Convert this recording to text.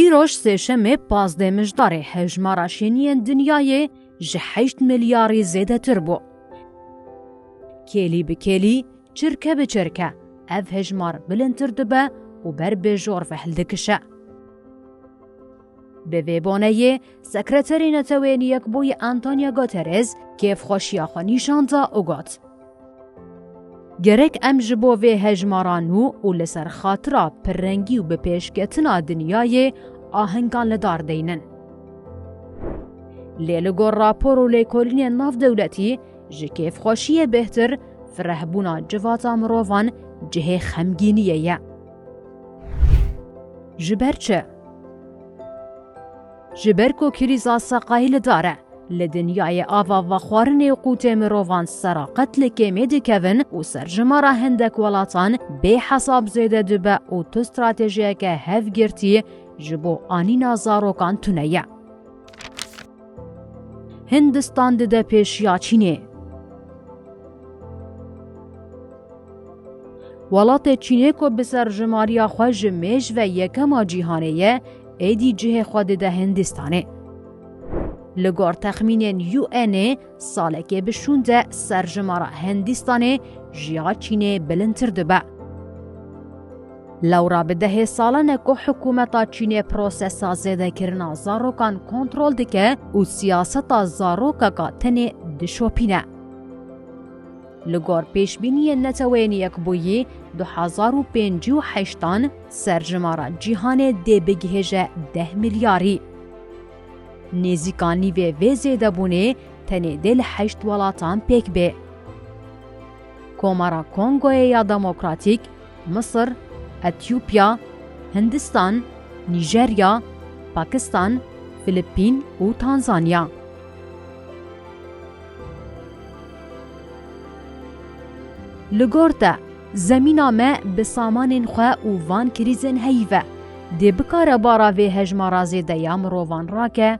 Îroj Sêşemê pazdeh mijdarê hejmara şêniyên dinyayê ji heşt milyarî zêdetir bû. Kêlî bi kêlî, çirke bi çirke ev hejmar bilindtir dibe û ber bêjor ve hildikişe. Bi vê boneyê Sekreterê Netewên Yekbûyî Antonio Guterres kêfxweşiya xwe nîşan da û got, Gerek em ji bo vê hejmara nû û li ser xatira pirrengî û bi pêşketina dinyayê ahengan li dar deynin. Lê li gor rapor û lêkolînên navdewletî ji kêfxweşiyê bêhtir firehbûna civata mirovan cihê xemgîniyê ye. Ji ber çi? Ji ber ku krîza seqayî li dar e, li dinyayê ava vexwarinê qûtê mirovan sera qet li kêmê dikevin û serjimara hindek welatan bê hesab zêde dibe û tu stratejiyeke hevgirtî ji bo anîna zarokan tune ye. Hindistan dide pêşiya Çînê. Welatê Çînê ku bi serjimariya xwe ji mêj ve yekema cîhanê ye, êdî cihê xwe dide Hindistanê. Li gor texmînên UN'ê salekê bi şûn de serjimara Hindistanê ji ya Çînê bilindtir dibe. Lewra bi dehê salan e ku hikûmeta Çînê prosesa zêdekirina zarokan kontrol dike û siyaseta zarokeka tenê dişopîne. Li gor pêşbîniyên Neteweyên Yekbûyî du hezar û pêncî û heştan serjimara cîhanê dê bigihêje deh milyarî. Nêzîka nîvê vê zêdebûnê tenê dê li heşt welatan pêk bê. Komara Kongoyê ya Demokratîk Misir, Etîopya, Hindistan, Nîjerya, Pakistan, Filipîn û Tanzanya. Li gor te, zemîna me bi samanên xwe û van krîzên heyî ve, dê bikare bara vê hejmara zêde ya mirovan rake?